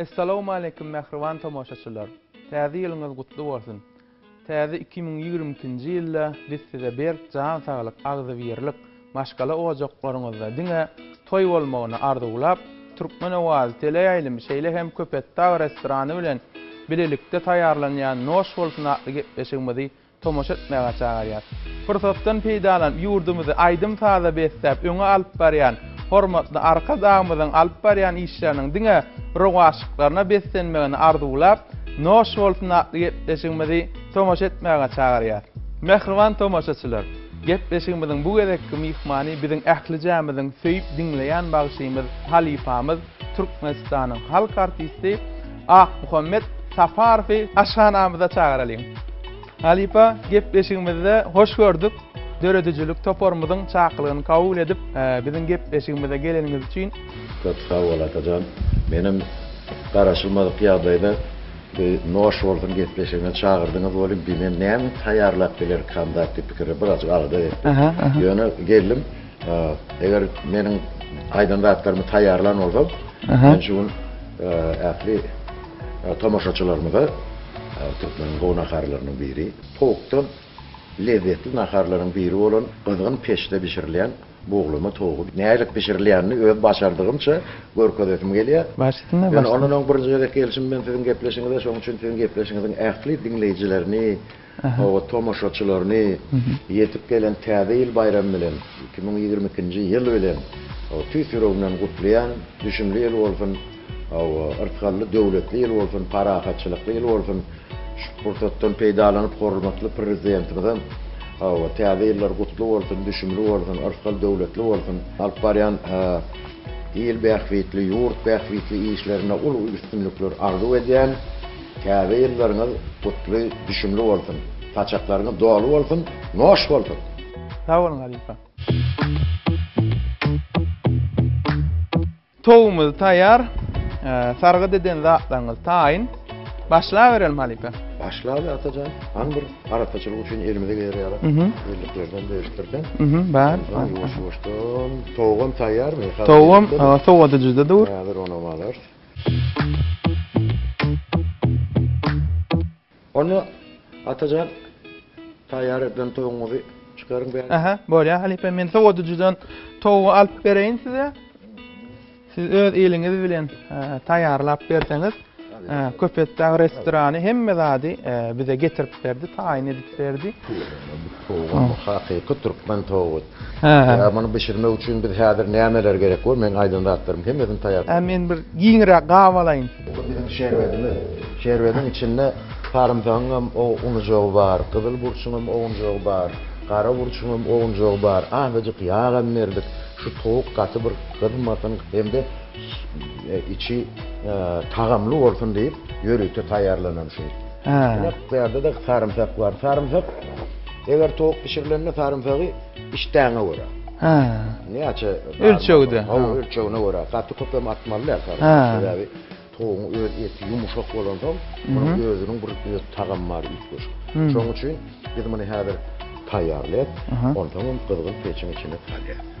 Essalawmaleýkim mähriban tomaşaçylar! Täze ýylyňyz gutly bolsun! Täze iki müň ýigrimi ikinji ýylda biz size berk jan saglyk, agzybirlik, maşgala ojaklaryňyzda diňe toý bolmagyny arzuwlap, Türkmen owazy teleýaýlymy şeýle hem Köpetdag restorany bilen bilelikde taýýarlanýan Noş bolsun atly gepleşigimizi tomaşa etmäge çagyrýar. Pursatdan peýdalanyp, ýurdumyzy aýdym-saza besläp öňe alyp barýan hormatly Arkadagymyzyň alyp barýan işleriniň diňe rowaçlyklaryna beslenmegini arzuwlap, Noş bolsun! atly gepleşigimizi tomaşa etmäge çagyrýar. Mähriban tomaşaçylar! Gepleşigimiziň bu gezekki myhmany biziň ählijämiziň söýüp diňleýän bagşymyz, halypamyz, Türkmenistanyň halk artisti Akmuhammet Saparowy aşhanamyza çagyralyň. Halypa, gepleşigimizde hoş gördük. Döredijilik toparymyzyň çakylygyny kabul edip, biziň gepleşigimize geleniňiz üçin. Köp sag bol Atajan. Menem garaşylmadyk ýagdaýda bir noş bolsun gepleşigine çagyrdyňyz welin, men näme taýýarlap bilerkam zat diýip pikirlenip birazajyk alada etdim. Ýöne geldim. Eger meniň aýdan zatlarymy taýýarlan bolsaň, men şu gün ähli tomaşaçylarymyza türkmeniň gowy naharlarynyň biri, towukdan lezzetli naharlaryň biri bolan gyzgyn peçde bişirilýän buglama towugy nädip bişirilýänini öz başardygymça görkezesim gelýär. Başlasynda başla. Ondan öň birinji gezek gelşim men siziň gepleşigiňize, şonuň üçin siziň gepleşigiňiziň ähli diňleýjilerini Oba tomaşaçylaryny ýetip gelen Täze ýyl baýramy bilen, iki müň ýigrimi ikinji ýyl bilen tüýs ýüregimden gutlaýan. Düşümli ýyl bolsun, yrtgally döwletli ýyl bolsun, parahatçylykly ýyl bolsun. Şu pursatdan peýdalanyp hormatly Prezidentimize Täze ýyllar gutly bolsun, düşümli bolsun, yrtgal döwletli bolsun. Alyp barýan il bähbitli, ýurt bähbitli işlerinde uly üstünlikler arzuw edýän. Täze ýyllaryňyz gutly, düşümli bolsun! Saçaklaryňyz doly bolsun, noş bolsun! Sag boluň halypa. Towumyz taýýar. Sargyt eden zatlaryňyz taýyn. Başlaberelim halypa. Başlaly Atajan. Hany bir arassaçylyk üçin elimize geler ýaly birliklerden bölüşdirseň. Bar. Ýuwaş-ýuwaşdan. Towugam taýýarmy? Towugam sowadyjyda dur. Häzir onam alarys. Onda Atajan taýýar edilen towugyňyzy çykaryň bäri. Aha, bolýar halypa, men sowadyjydan towugy alyp bereýin size. Siz öz eliňiz bilen taýýarlap berseňiz, Köpetdag restorany hemme zady bize getirip berdi, taýyn edip berdi. Hakyky türkmen towugy. Ýa muny bişirmek üçin biz häzir nämeler gerek we meň aýdan zatlarym hemmesini taýýar. Ä men bir giňräk gap alaýyn. Bu biziň şerbedimiz. Şerbediň içinde sarymsagyň hem ownujygy bar, gyzyl burçuň hem ownujygy bar, gara burçuň hem ownujygy bar. Azajyk ýag hem berdik. Şu towuk gaty bir gyzmasyn hem-de içi tagamly bolsun diýip ýörite taýýarlanan şu. Ine bu ýerde-de sarymsak bar. Sarymsak Eger towuk bişirilende sarymsagy işdäňe görä. Hä. Näçe? Ölçegde. Hawa, ölçegine görä. Gaty köp hem atmaly däl sarymsak. Sebäbi towugyň öz eti ýumşak bolansoň, munuň özüniň bir öz tagamy bar üýtgeşik. Şonuň üçin biz muny häzir taýýarlaýas, onsoň hem gyzgyn peçiň içine salýas.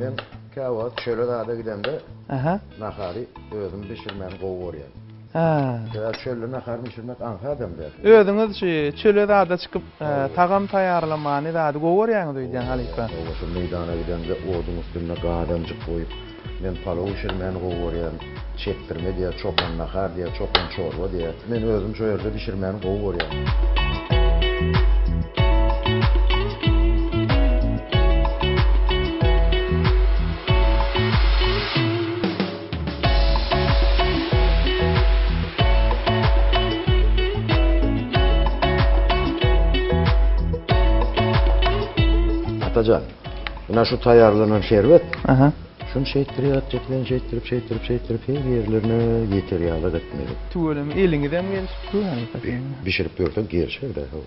Men käwagt şeýle zada gidemde nahary özüm bişirmäni gowy görýän. Sebäbi çölde nahar bişirmek aňsat hem-de. Özüňiz şu çöle zada çykyp tagam taýýarlamany zady gowy görýäňiz öýdýän halypa. Meýdana gidemde oduň üstünde gazanjyk goýup. Men palow bişirmäni gowy görýän. Çekdirme diýer, çopan nahar diýer, çopan çorba diýer. Men özüm şo ýerde bişirmäni gowy görýän. Atajan, Mına şu taýýarlanan şerbet. Aha. Şuny şeýtdir ýatjak, men şeýtdirip, şeýtdirip, şeýtdirip her ýerlerine ýeter ýaly etmeli. Tüweleme eliňizem gelşip dur hany. Bişirip ýörseň gelşer-de hol.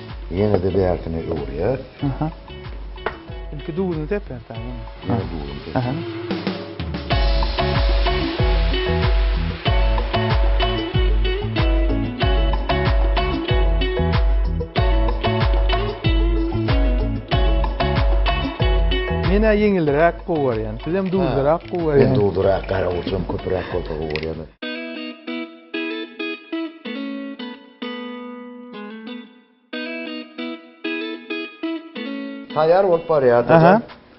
Ýene-de bärsine öwürýär. Aha. Ilki duzuny sepýär sen ýene. Ýene duzuny sepýär. Aha. Men-ä ýeňilräk gowy görýän. Siz hem duzlurak gowy görýän. Men duzlurak, garawulçam köpräk bolsa gowy görýän. Taýýar bolup barýar dede.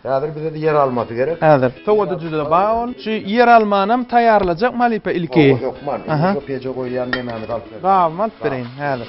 Häzir bize ýer almasy gerek. Häzir. Sowada juda baý ol. Şu ýer almanam taýýarlajak malypa ilki. Hawa hökman. Indi şu peje goýýan nemämizi alyp ber. Gabymy alyp bereýin häzir.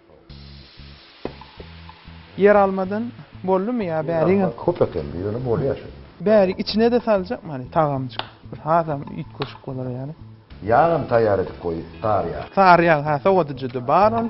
Ýer almadan boldymy ýa bäriňem. Köp ekeni ýöne bolýa şu. Bärik içine-de saljak many tagamjyk. Bir hasam üýtgeşik bolar ýaly. Ýagam taýýar edip goý, sary ýag. Sary ýag ha sowadyjyda bar ol.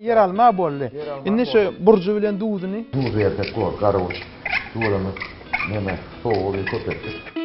Ýeralma boldy. Indi şu burjy bilen duzuny. Duz bersek bor, garybuz. Duzumyz neme, sowugy bir köp etdik.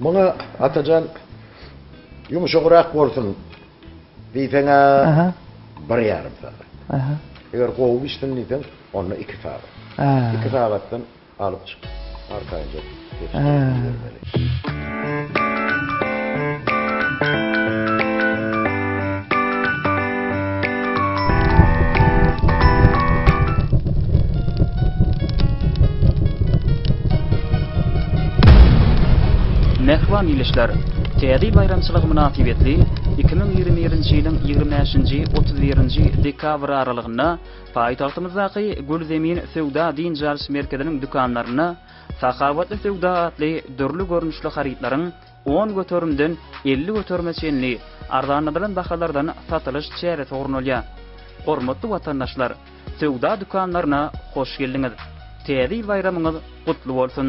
Muňa Atajan ýumşagrak bolsun diýseň-ä bir ýarym sagat. Eger gowy bişsin diýseň, onda iki sagat. Iki sagatdan alyp çyk, arkaýynja peçke ibermeli. Mähriban ildeşler! Täze ýyl baýramçylygy mynasybetli iki müň ýigrimi birinji ýylyň ýigrimi bäşinji, otuz birinji dekabr aralygynda paýtagtymyzdaky Gülzemin söwda-dynç alyş merkeziniň dükanlarynda Sahawatly söwda atly dürli görnüşli harytlaryň on göterimden elli göterime çenli arzanladylan bahalardan satylyş çäresi gurnalýar. Hormatly watandaşlar, söwda dükanlaryna hoş geldiňiz! Täze ýyl baýramyňyz gutly bolsun!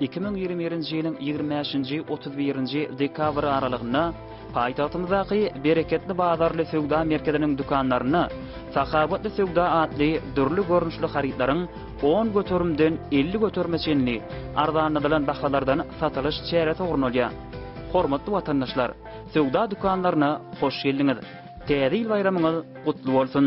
Iki müň ýigrimi birinji ýylyň ýigrimi bäşinji, otuz birinji dekabr aralygynda paýtagtymyzdaky Bereketli bazarly söwda merkeziniň dükanlarynda Sahawatly söwda atly dürli görnüşli harytlaryň on göterimden elli göterime çenli arzanladylan bahalardan satylyş çäresi gurnalýar. Hormatly watandaşlar, söwda dükanlaryna hoş geldiňiz! Täze ýyl baýramyňyz gutly bolsun!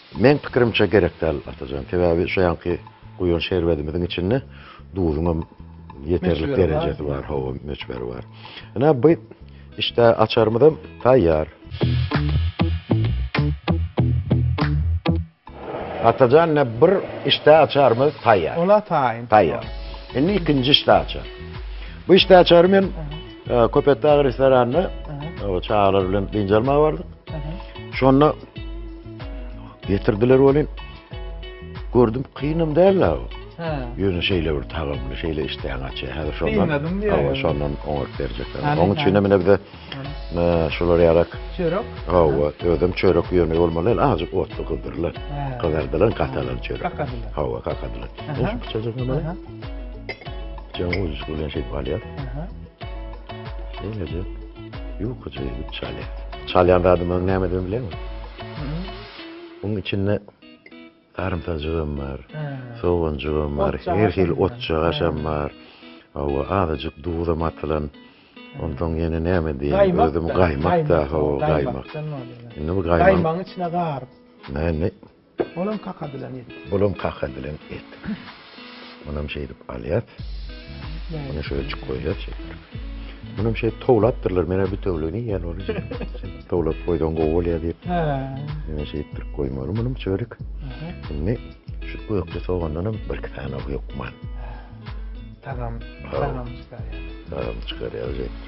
Meň pikirimçe gerek däl Atajan, sebäbi şu ýanky guýan şerbedimiziň içinde duzuňam ýeterlik derejesi bar, hawa möçberi bar. Ine bu işte açarymyzam taýýar. Atajan ine bir işte açarymyz taýýar. Ola taýyn. Taýýar. Indi ikinji işte açar. Bu işte açary men Köpetdag restoranynda çagalar bilen dynç almaga bardyk. Şonda getirdiler welin gördüm kynam däl la. Ha. Ýöne şeýle bir tagamly, şeýle işdäň açy. Häzir şondan. Hawa, şondan oňat berjekler. Onuň üçin hem bize e, şular ýalak. Çörek. Hawa, özüm çörek ýöne bolmaly, azjyk otly gyzdyrlar. Gyzardylar, katalan çörek. Kakadylar. Hawa, kakadylar. Şu küçüjik nima? Jaň uzuş bilen şeýdip alýar. Şeýle-de ýukaja edip çalýar. Çalýan zadymy öň nämeden bileňmi? Munuň içinde sarymsajygam bar, soganjygam bar, her hili otjagaşam bar. Hawa, azajyk duzam atylan. Onsoň ýene näme diýeýin, özüm gaýmak-da, hawa, gaýmak. Indi bu gaýmagyň içine garyp. Näme? Bolam kaka bilen et. Bolam kaka bilen et. Munam şeýdip alýas. Muny şeýle çyk goýýas şeýdip. Munam şeýdip towlapdyrlar. Menä bütewligini iýen ony. Towlap goýsaň gowy bolýar diýip. Hä. Menä şeýdip bir goýmaly munyň çörek. Indi şu ökde sogandanam bir iki sany hökman. Tagam, tagam çykarýar. Tagam çykarýar şeýdip.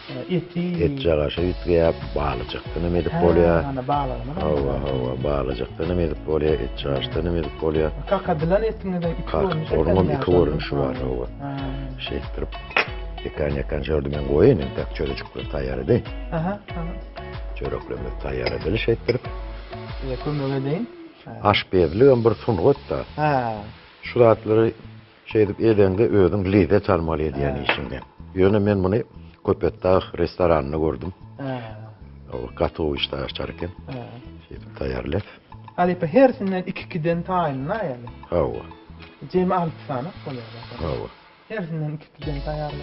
Etjek aşa üýtgeýär, balyjykdanam edip bolýar. Hä, balygynam. Hawa, hawa, balyjykdanam edip bolýar, etjek aşdanam edip bolýar. Kakadylan etiňizem iki görnüşi bar. Onuňam iki görnüşi bar, hawa. Şeýtdirip, ýekan-ýekan şöyle men goýaýyn, entek çörejikler taýýar edeýin. Aha, aha. Çöreklerimiz taýýar edeli şeýtdirip. Size kömek edeýin. Aşpezligem bir sungat-da. Hä. Şu zatlary Şeýdip edeňde özüň lezzet almaly edýän işiňden. Ýöne men muny Köpetdag restoranynda gördüm. Ol gatowy işläp açar eken. Şeýdip taýýarlap. Halypa hersinden iki-ikiden taýynla ýaly. Hawa. Jemi alty sany bolýar. Hawa. Hersinden iki-ikiden taýýarla.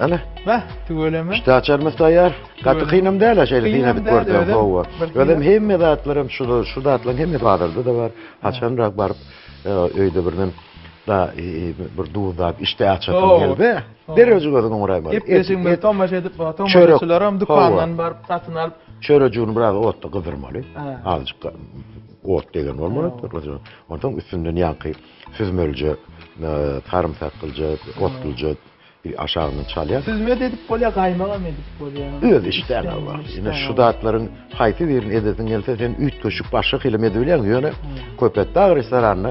Ana. Bäh, tüweleme. Pişdi açarmyz taýýar. Gaty kynam däl ha şeýle diýip gördüm. Hawa. Özüm hemme zatlarym şu şu zatlaryň hemme bazarda da bar. Haçanrak baryp e, öýde birden da e, e, bir duzlap işte açasym geldi. Derreji gözüň oňraýmaly. Howwa. Gepleşigimizi tomaşa edip baga tomaşaçylaram dükandan baryp satyn alyp. Çörejigini biraz otda gyzdyrmaly. Azajyk ot degen bolmaly. Onsoň üstünden ýaňky süzmelije, sarymsaklyja, otluja aşagyndan çalýar. Süzme de edip bolýar, gaýmagam edip bolýar. Öz işdäňe bagly. Ine şu zatlaryň haýsy birini edesiň gelse sen üýtgeşik başga hilem edibilýäň. Ýöne Köpetdag restoranyna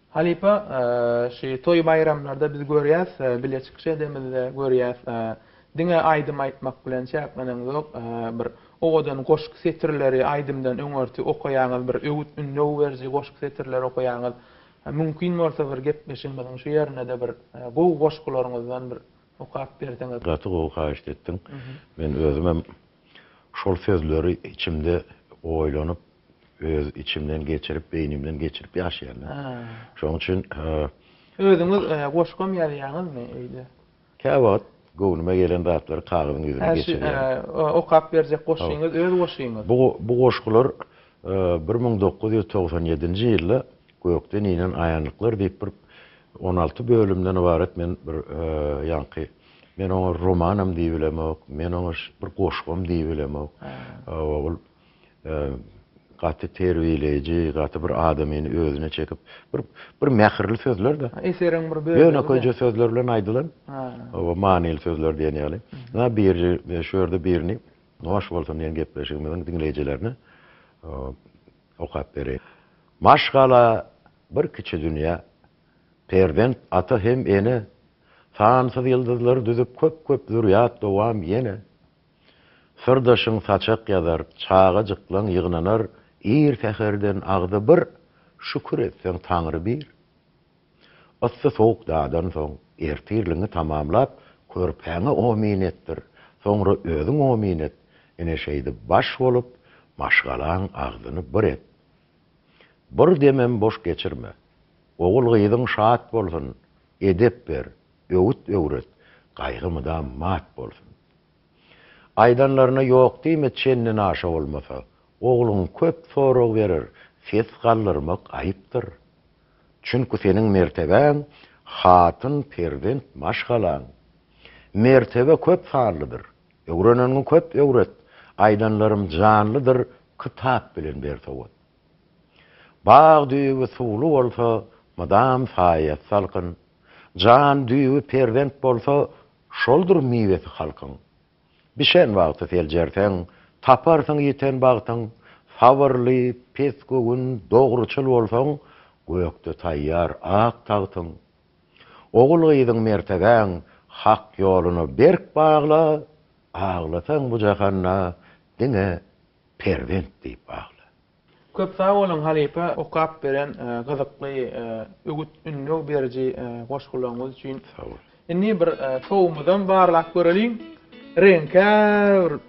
Halypa şu toý baýramlarda biz görýäs bile çykyş edemizde görýäs diňe aýdym aýtmak bilen çäkleneňzok bir owadan goşgy setirleri aýdymdan öňürti okaýaňyz bir öwüt ündew beriji goşgy setirleri okaýaňyz mümkin bolsa bir gepleşigimiziň şu ýerindede bir gowy goşgularyňyzdan bir okap berseňiz. Gaty gowy haýyşt etdiň. Men özümem. Şol sözleri içimde oýlanyp, öz içimden geçirip, beýnimden geçirip ýaşaýan-da. Şonuň üçin. Özüňiz goşgam ýazýaňyzmy öýde? Käwagt göwnüme gelen zatlary kagyzyň ýüzüne geçirýän. Şu okap berjek goşgyňyz öz goşgyňyz? Bu goşgular bir müň dokuz ýüz togsan ýedinji ýylda Gökden inen aýanlyklar diýip bir on alty bölümden ybarat men bir ýaňky Men oňa romanam diýip bilemok, men oňa bir goşgam diýip bilemok. Ogul gaty terbiýeleýji, gaty bir adamyny özüne çekip, bir bir mähirli sözler-de. Eseriň bir bölegi. Ýönekeýje sözler bilen aýdylan. Oba manyly sözler diýen ýaly. Ynha biri şu ýerde birini Hoş bolsun diýen gepleşigimiziň diňleýjilerine okap bereýin. Maşgala bir kiçi dünýä. Perzent ata hem ene, Sansyz ýyldyzlar düzüp Köp-köp zürýat dowam ýene. Syrdaşyň saçak ýazar, Çagajyklaň ýygnanar, Ir säherden agzy bir, Şükür etseň Taňry bir. Yssy-sowuk dadansoň, Ertirligiňi tamamlap, Körpäňe omyn etdir, Soňra özüň omyn et, Ine şeýdip baş bolup, Maşgalaň agzyny bir et. Bir demem boş geçirme. Ogul-gyzyň şat bolsun, Edep ber, öwüt öwret, Gaýgy mydam mat bolsun. Aýdanlaryna ýok diýme Çenden aşa bolmasa, Ogluň köp sorag berer, Ses galdyrmak aýypdyr. Çünki seniň mertebäň, Hatyn, perzent, maşgalaň. Mertebe köp sanlydyr, Öwreneniňi köp öwret, aýdanlarym janlydyr kytap bilen ber sowat. Bag düýbi suwly bolsa, mydam saýasy salkyn, jan düýbi perzent bolsa, şoldur miwesi halkyň. Bişen wagty seljerseň, taparsyň ýiten bagtyň, sabyrly, pes göwün, dogruçyl bolsaň, gökde taýýar ak tagtyň. Ogul-gyzyň mertebäň hak ýoluna berk bagla, aglasaň bu jahanda diňe perzent diýip agla. Köp sag boluň halypa okap beren gyzykly öwüt ündew beriji goşgularyňyz üçin. Indi bir sowumyzam barlap göreliň. Reňkär.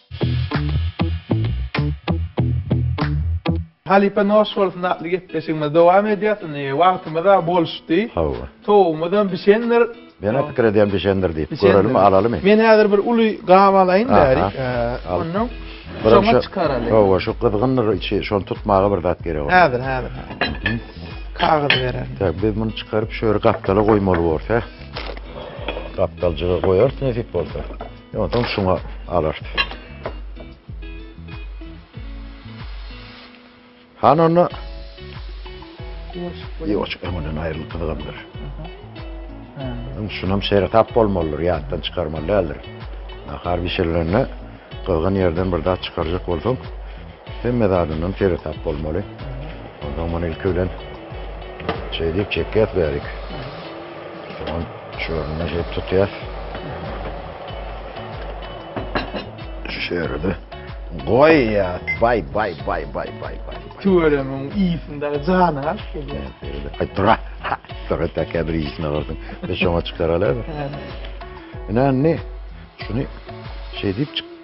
Halypa noş bolsun atly gepleşigimiz dowam edýär indi wagtymyzam boluşdy. Hawa. Towugymyzam bişendir. Menä pikir edýän bişendir diýip. Görelimi alalymy. Men häzir bir uly gap alaýyn bäri. Ondan şoňa çykaraly. Hawa şu gyzgyndyr içi şony tutmaga bir zat gerek ol. Häzir häzir. Kagyz bererin. Tä biz muny çykaryp şöyle gapdala goýmaly borus hä. Gapdaljyga goýarys nesip bolsa. Ondan şuna alart. Han onda Ýoşuk öňünden aýrylyp gyzgandyr. Onuň şunam şeýle tap bolmalydyr, ýatdan çykarmaly däldir. Nahar bişirilende gyzgyn ýerden bir zat çykarjak bolsaň, Hemme zadyndan seresap bolmaly. Ondan muny ilki bilen şeý diýip çekýäs bärik. Soňam şu ýerinden şeýdip tutýas. Şu ýerde goýýas. Baý, baý, baý, baý, baý, baý. Tüweleme ýüzünde jany aç gelýär. Aý dur. Dur et äkä bir ýüzüne görseň. Biz şoňa çykaralar. Ine indi şuny şeý diýip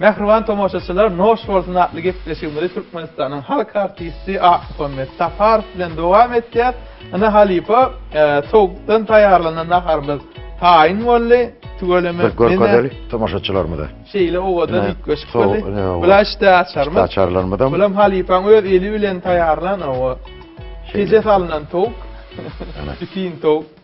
Mähriban tomaşaçylar, Noş bolsun atly gepleşigimizi Türkmenistanyň halk artisti Akmuhammet Saparow bilen dowam etýäs. Ine halypa, towukdan taýýarlanan naharymyz taýyn boldy. Tüweleme. Bir görkezeli tomaşaçylarymyza. Şeýle owadan üýtgeşik boldy. Bula içde açarymyz. Içde açarlarymyzam. Bulam halypaň öz eli bilen taýýarlan owo. Peje salnan towuk. Ana. Bitin towuk.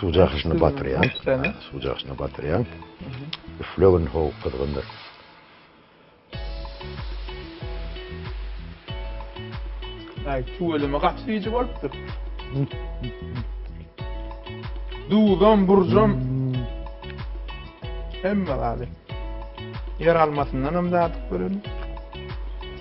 Suw jakyşyny batyrýan. Suw jakyşyny batyrýan. Üflegin ho gyzgyndyr. Ay tüweleme gaty bici bolupdyr. Duzam, burjam. Hemme galy. Yer almasyndan hem dadyp görelim.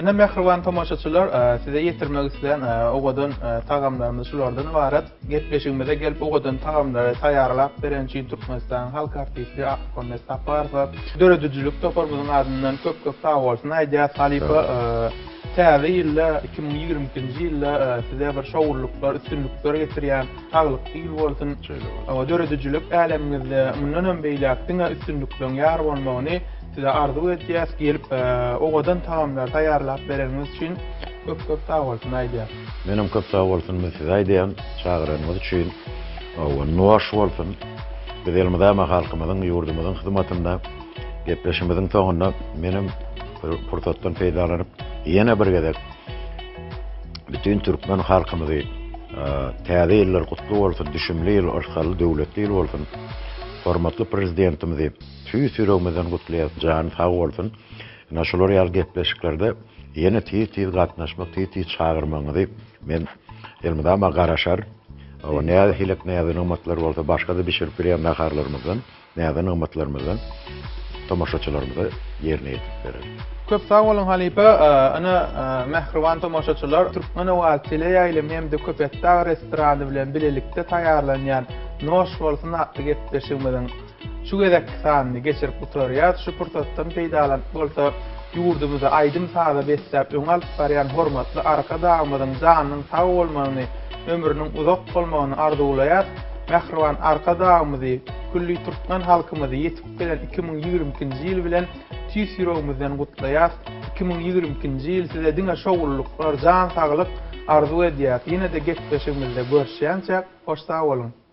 Ine mähriban tomaşaçylar size ýetirmek islän owadan tagamlarymyz şulardan ybarat. Gepleşigimize gelip owadan tagamlary taýýarlap beren üçin Türkmenistanyň halk artisti Akmhammet Saparowa döredijilik toparymyzyň adyndan köp köp sag bolsun aýdýas. Halypa Täze ýylda iki müň ýigrimi ikinji ýylda size bir şowluklar üstünlikler getirýän saglykly ýyl bolsun. Döredijilik älemiňizde mundanam beýläk diňe üstünlikleriň ýar bolmagyny Size arzuw etýäs gelip owadan tagamlar taýýarlap bereniňiz üçin köp köp sag bolsun aýdýas. Menem köp sag bolsun men size aýdýan çagyranyňyz üçin owan nuaş bolsun biz elmydama ma halkymyzyň ýurdumyzyň hyzmatynda gepleşimiziň soňunda menem bir pursatdan peýdalanyp ýene bir gezek bütün türkmen halkymyzy täze ýyllar gutly bolsun düşümli ýyl hoşhally döwletli ýyl bolsun hormatly prezidentimizi Tüýs ýüregimizden gutlaýas jany sag bolsun ina şular ýaly gepleşiklerde ýene tiz tiz gatnaşmak tiz tiz çagyrmagyňyzy men elmydama garaşar o näzi hilek näzi nygmatlar bolsa başgada bişirip bilýän naharlarymyzdan näzi nygmatlarymyzdan tomaşaçylarymyza ýerine ýetirip bereris. Köp sag boluň halypa ina mähriban tomaşaçylar Türkmen owazy teleýaýlym hem-de Köpetdag restorany bilen bilelikde taýýarlanýan Noş bolsun atly gepleşigimiziň Şu gezekki sanyny geçirip gutarýas, şu pursatdan peýdalanyp bolsa ýurdumyzy aýdym saza besläp öňe alyp barýan hormatly Arkadagymyzyň janynyň sag bolmagyny, ömrüniň uzak bolmagyny arzuwlaýas, mähriban Arkadagymyzy, külli türkmen halkymyzy ýetip gelen iki müň ýigrimi ikinji ýyl bilen tüýs ýüregimizden gutlaýas, iki müň ýigrimi ikinji ýyl size diňe şowlulyklar, jan saglyk arzuw edýäs, ýene-de gepleşigimizde görüşýänçäk hoş sag boluň.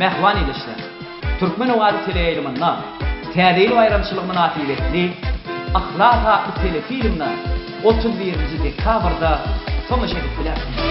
Mähriban ildeşler! Türkmen owazy teleýaýlymynda Täze ýyl baýramçylygy mynasybetli Yhlas atly telefilmine otuz birinji dekabrda tomaşa edip bilersiňiz.